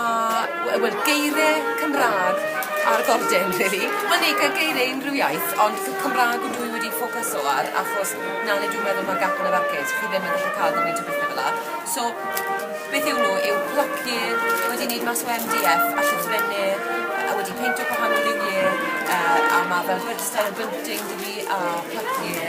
A we- wel geirie Cymra'g ar gordin rili. Wel neu ge- geirie unryw iaith ond c- Cymra'g ydw i wedi ffocyso ar achos 'na le dwi'n meddwl ma' gap yn y farcêt chi ddim yn gallu ca'l gymaint o bethe fela so beth yw nw yw plycie wedi neud mas o Em Dee Eff a llythrenne yy a wedi peintio gwahanol liwie yy a ma' fel rhedstr a bunting 'da fi a plycie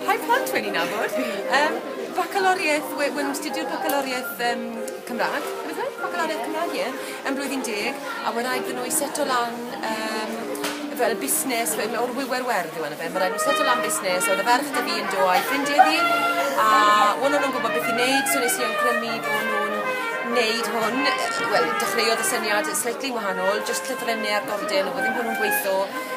Rhai plant wedi nabod. Um, bacaloriaeth, we, we'n studio'r bacaloriaeth um, Cymraeg, bacaloriaeth Cymraeg, ie, yn blwyddyn deg, a mae'n rhaid nhw i seto lan um, fel busnes, fel o'r wywer werdd yw yna fe, mae'n rhaid nhw seto lan busnes, oedd y ferch da fi yn do a'i ffrindiau fi, a o'n nhw'n gwybod beth i wneud, so nes i awgrymu bod nhw'n wneud hwn, wel, dechreuodd y syniad slightly wahanol, jyst llythrennau ar gordyn, oedd ddim hwnnw'n gweithio,